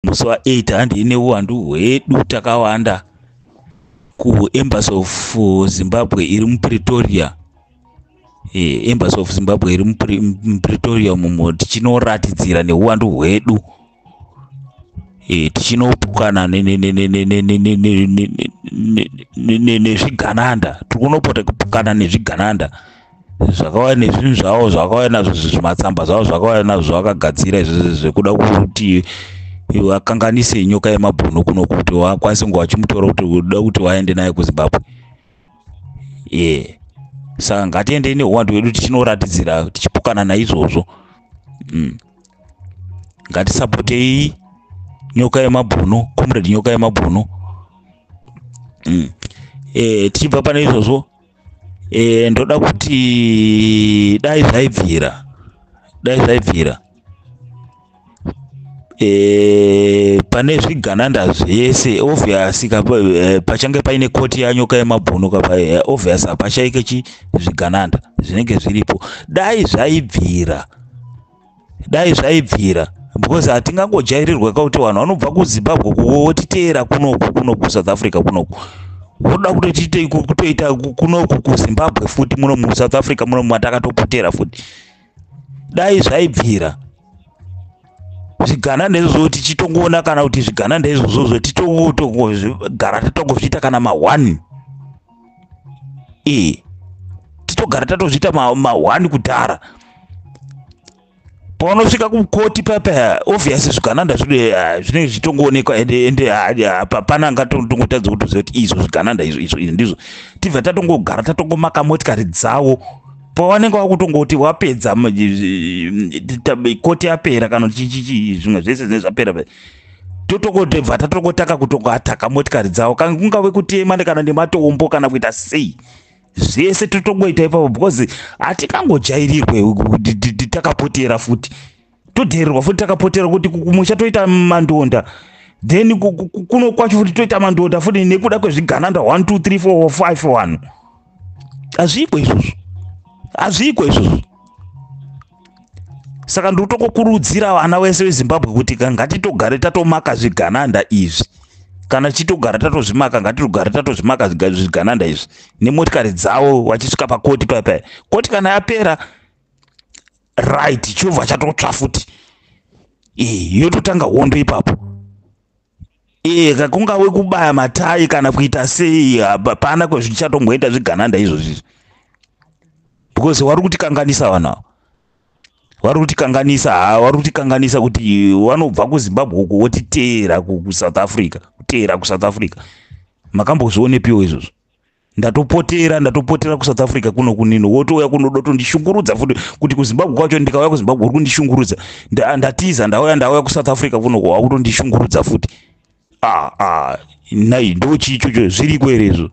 musi wa 8 handei neuwandu hwedu takawanda kuembassy of uh, zimbabwe iri mupretoria eh, embassy of zimbabwe iri mupretoria mumo tichinoratidzira neuwandu hwedu eh, tichinopukana nezvigananda tiri kunopota kupukana nezvigananda zvakauya nezvinhu zvavo zvakauya nazvo zvimatsamba zvavo zvakauya nazvo zvavakagadzira izvozvo zvekuda kuti vakanganise nyoka yemabhunu kuno kuti vakwanise kunge vachimutora kuti uda kuti vaende naye kuzimbabwe ye saka ngatiendei neuwandu hwedu tichinoratidzira tichipokana naizvozvo mm. ngatisapotei nyoka yemabhunu comrade nyoka yemabhunu mm. e, tichibva pane izvozvo e, ndoda kuti dai zvaibvira dai zvaibvira e, pane zvigananda zvese obvious ka eh, pachange paine koti yanyoka yemabhunu ka eh, obvious hapashaike chi zvigananda zvinenge zviripo dai zvaibvira dai zvaibvira because hatingangojairirwa kakuti vanhu vanobva kuzimbabwe kuko wotiteera kunoku kunoku kusouth africa kunoku voda kutotiitei kutoita kunoku kuzimbabwe futi muno musouth africa muno matakatopotera futi dai zvaibvira zvigana ndezvozvo tichitongoona kana kuti zvigana ndezvozvozvo titogara tatongozviita kana ma1 ee titogara tatozviita mahwani kudhara paunosvika kukoti papa obvious zvigananda eh, zvinenge zvichitongoonekwa ende hapana ah, angatongotadza kutoziva kuti izvo zvigananda izvo izvo izvi ndizvo tibva tatongogara tatongomaka motikari dzavo pawanenge wakutongoti wapedza koti yapera kana chii zvimwe zvese zvinenge zvapera totokotebva tatokotaka kutokoataka motikari dzavo kana kungave kutema kana nematombo kana kuita sei zvese totongoita ipapo because hatikangojairirwe takapotera futi todhererwa futi takapotera kuti kumusha toita mandonda then kuno kwacho futi toita mandonda futi nekuda kwezvigananda 1 2 3 4 5 wanu hazviiko izvozvo hazviiko izvozvo saka ndotokokurudzira vana vese vezimbabwe kuti ka ngatitogare tatomaka zvigananda izvi kana tichitogara tatozvimaka ngatitogare tatozvimaka zvigananda izvi nemotikari dzavo vachisvika pakoti paipai koti kana yapera right chobva chatotsva futi e yototanga hondo ipapo eka kungave kubaya matai kana kuita sei hapana kwezvichatomboenda zvigananda izvozvi izvi because wari kutikanganisa vanhu ava wari kutikanganisa ha wari kutikanganisa kuti wanobva kuzimbabwe uko wotiteera kusouth africa kuteera kusouth africa makambozvionepiwo izvozvo ndatopotera ndatopotera kusouth africa kuno kunino wotouya kuno dotondishungurudza futi kuti kuzimbabwe kwacho ndikauya kuzimbabwe uri kundishungurudza ndatiza ndauya ndauya kusouth africa kuno ko wakutondishungurudza futi ah, ah, nai ndo chii chocho zviriko here izvo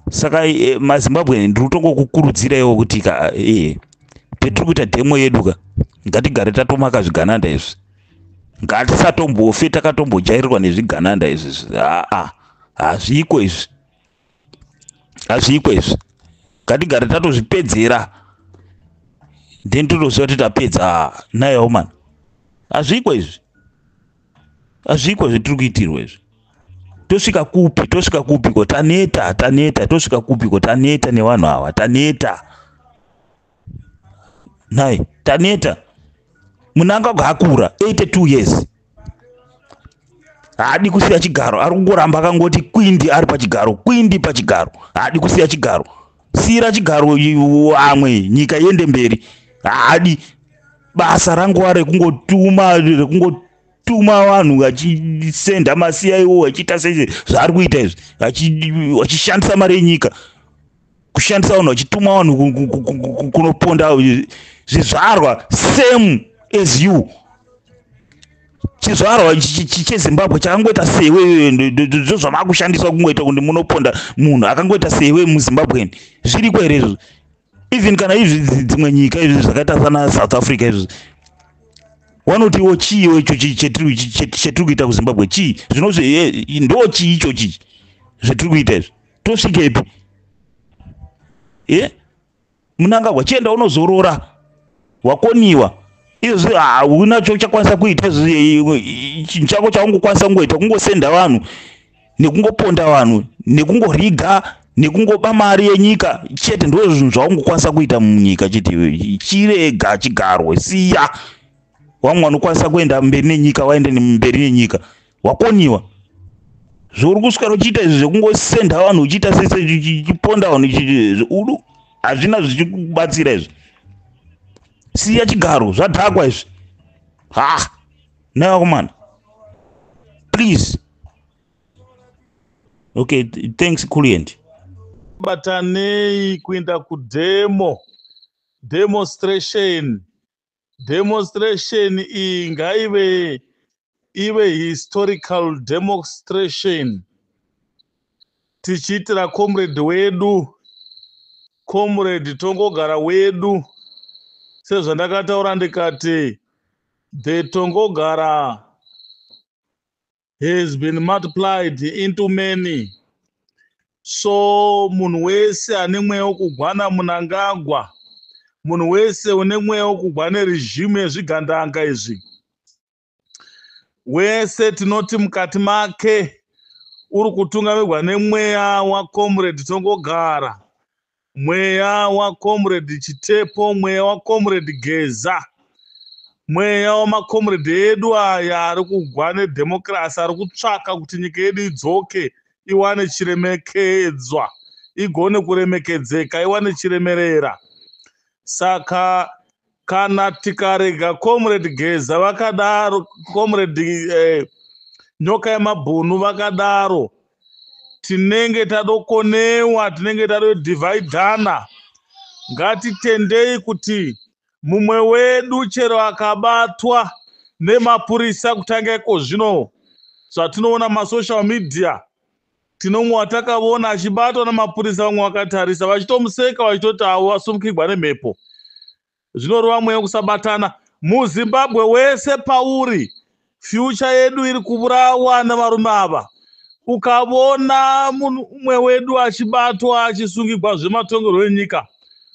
saka eh, mazimbabwe ndiri kutongokukurudzira iwo kuti ka eh, petiri kuita dhemo yedu ka ngatigare tatomaka zvigananda izvi ngatisatombofe takatombojairirwa nezvigananda izvi aa hazviko izvi hazviko izvi ngatigare tatozvipedzera then totoziva kuti tapedza naye omani hazviko izvi hazviko izvi tiri kuitirwa izvi tosvika kupi tosvika kupiko taneta taneta tosvika kupiko taneta nevanhu ava taneta nhai taneta munangagwa akura 82 years haadi kusiya chigaro ari kungoramba akangoti kwindi ari pachigaro kwindi pachigaro haadi kusiya chigaro siira chigaro amwe nyika iende mberi haadi basa ranguva rekungotuma rekungotuma vanhu vachisenda masiya iwo vachiita sei zvaari kuita izvi vachishandisa mari yenyika kushandisa vanhu vachituma vanhu kunoponda zvizvarwa same as you chizvarwa chezimbabwe chakangoita sewe ndozvamakushandiswa kungoita kuti munoponda munhu akangoita sewe muzimbabweni zviriko here izvozvo even kana izvi dzimwe nyika izvi zvakaita sana south africa izvi wanotiwo chiiwo icho chetiri kuita kuzimbabwe chii zvinozve ndo chii icho chii zvetiri kuita izvi tosvikepi e munangagwa chienda unozorora wakoniwa izvi hauna chauchakwanisa kuita chinhu chako chaungokwanisa kungoita kungosenda vanhu nekungoponda vanhu nekungoriga nekungoba mari yenyika chete ndo zvinhu zvaungokwanisa kuita munyika chiti chirega chigarwe siya wamwe wanokwanisa kuenda mberi nenyika waende mberi nenyika wakoniwa zvouri kuswera uchiita izvi zvekungosenda vanhu uchiita sechiponda vanhu udu hazvina zvichikubatsira izvi siya chigaro zvadhakwa izvi ha naivakomana please okay thanks kulient batanei kuenda kudemo demonstration demonstration iyi ngaive ive historical demonstration tichiitira comrade wedu comrade tongogara wedu sezvandakataura ndikati the tongogara has been multiplied into many so munhu wese ane mweya wokugwana munangagwa munhu wese une mweya wokugwa neregimu yezvigandanga izvi wese tinoti mukati make uri kutungamirwa nemweya wacomrade tongogara Mweya wa comrade Chitepo, mweya wa comrade Geza, mweya wama comrade edu aya ari kugwa ne democracy, ari kutsvaka kuti nyika yedu idzoke iwane chiremekedzwa, igone kuremekedzeka, iwane chiremerera. Saka kana tikarega comrade geza vakadaro comrade eh, nyoka yemabhunu vakadaro tinenge tadokonewa tinenge tadodividana ngatitendei kuti mumwe wedu chero akabatwa nemapurisa kutanga iko zvino zvatinoona masocial media Tino umwe watakavona achibatwa namapurisa vamwe vakatarisa vachitomuseka vachitoti avo vasumukigwa nemhepo. Zvinorova mweya wekusabatana. MuZimbabwe wese pauri, fyucha yedu iri kuvurawa nevarume ava. Ukavona munhu umwe wedu achibatwa achisungigwa zvematongerwo enyika,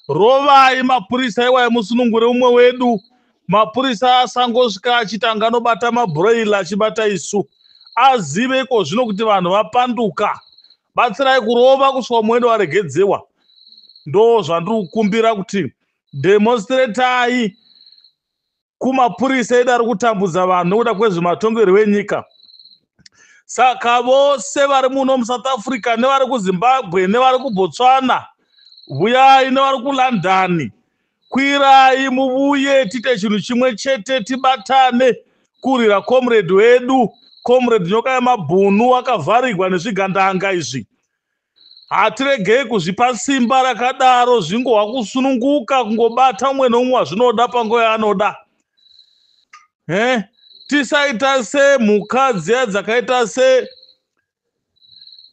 rovai mapurisa iwayo musunungure umwe wedu mapurisa asangosvika achitanga anobata mabroil achibata isu azive iko zvino kuti vanhu vapanduka batsirai kurova kusvika muende waregedzewa ndo zvandiri kukumbira kuti demonstratai kumapurisa edu ari kutambudza vanhu nokuda kwezvematongerwo enyika saka vose vari muno musouth africa nevari kuzimbabwe nevari kubotswana vuyai nevari kulondon Kwirai muvuye tiite chinhu chimwe chete tibatane kurwira comrade wedu comrade nyoka yemabhunu wakavharigwa nezvigandanga izvi hatiregei kuzvipa simba rakadaro zvingohwa kusununguka kungobata umwe noumwe wazvinoda panguva yaanoda he tisaita semhuka dziya dzakaita se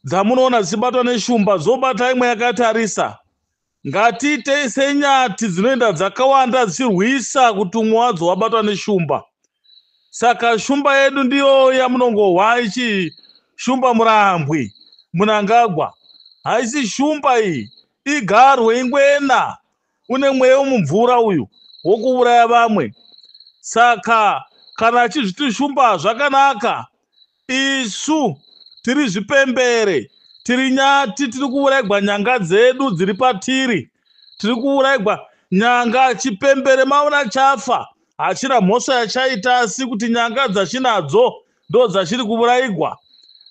dzamunoona dzichibatwa neshumba dzobata imwe yakatarisa ngatiitei senyati dzinoenda dzakawanda dzichirwisa kuti umwe wadzo wabatwa neshumba saka shumba yedu ndiyo yamunongohwa ichi shumba murambwi munangagwa haisi shumba iyi igarwe ingwena une mweya wemumvura uyu wokuuraya vamwe saka kana achizvitishumba zvakanaka isu tiri zvipembere tiri nyati tiri kuuraigwa nyanga dzedu dziri patiri tiri kuuraigwa nyanga chipembere maona chafa hachina mhosva yachaita asi kuti nyanga dzachinadzo ndo dzachiri kuvuraigwa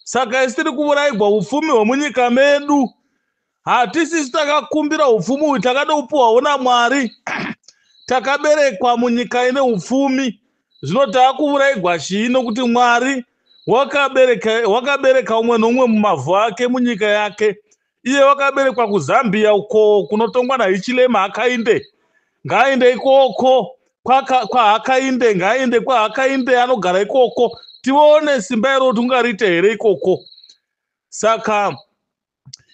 saka isi tiri kuvuraigwa upfumi hwemunyika medu Hatisisu takakumbira upfumi uyu, takada kupuhwawo naMwari. Takaberekwa munyika ine upfumi, zvino takuvuraigwa chii nokuti Mwari wakabereka, wakabereka umwe noumwe mumavhu ake munyika yake. Iye wakaberekwa kuZambia uko kunotongwa naHichilema Hakainde. Ngaainde ikoko kwahakainde, kwa ngaainde kwahakainde anogara ikoko. Tione simba iro kuti ungariite here ikoko. Saka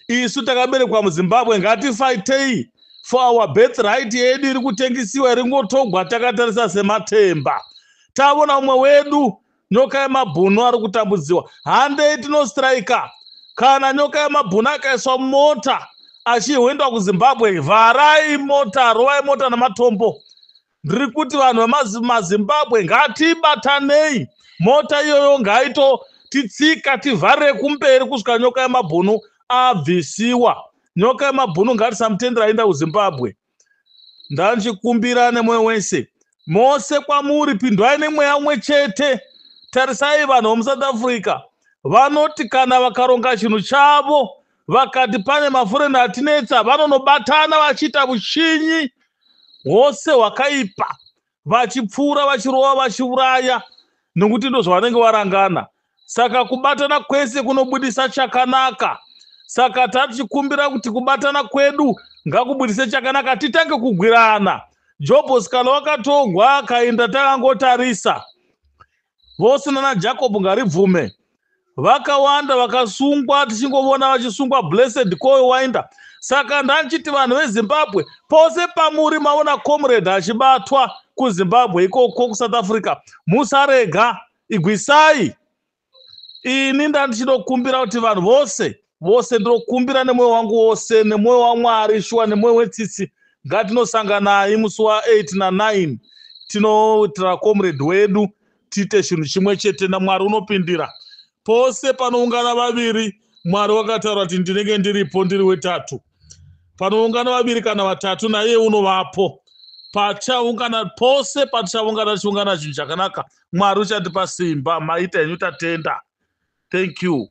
isu takaberekwa muzimbabwe ngatifaitei for our birth right yedu iri kutengisiwa iri ngotogwa takatarisa sematemba tavona umwe wedu nyoka yemabhunu ari kutambudziwa handei tinostrika kana nyoka yemabhunu akaiswa mota achihwendwa kuzimbabwe vharai mota rovai mota nematombo ndiri kuti vanhu vemazimbabwe ngatibatanei mota iyoyo ngaito titsika tivharire kumberi kusvika nyoka yemabhunu abvisiwa nyoka yemabhunu ngatisamutendera aenda kuzimbabwe ndandichikumbira nemwoyo wese mose kwamuri pindwai nemweya umwe chete tarisai vanhu vemusouth africa vanoti kana vakaronga chinhu chavo vakati pane mafurenda atinetsa vanonobatana vachiita vushinyi hwose hwakaipa vachipfuura vachirova vachiuraya nokuti ndozvavanenge varangana saka kubatana kwese kunobudisa chakanaka saka tatichikumbira kuti kubatana kwedu ngakubudise chakanaka titange kugwirana jobhos kana wakatogwa akaenda takangotarisa vose nana jacob ngaribvume vakawanda vakasungwa tichingovona vachisungwa blessed koyo wainda saka ndanchiti vanhu vezimbabwe pose pamuri maona comrade achibatwa kuzimbabwe ikoko kusouth africa musarega igwisai ini ndandichinokumbira kuti vanhu vose vose ndinokumbira nemwoyo wangu wose nemwoyo wamwari shuwa nemwoyo wetsitsi ngatinosanganai musi wa8 na9 tinoitira comrade wedu tiite chinhu chimwe chete namwari unopindira pose panoungana vaviri mwari wakataura kuti ndinenge ndiripo ndiri wetatu panoungana vaviri kana vatatu naiye unovapo pachaungana pose patichaungana tichiungana chinhu chakanaka pa mwari uchatipa simba maita henyu tatenda thank you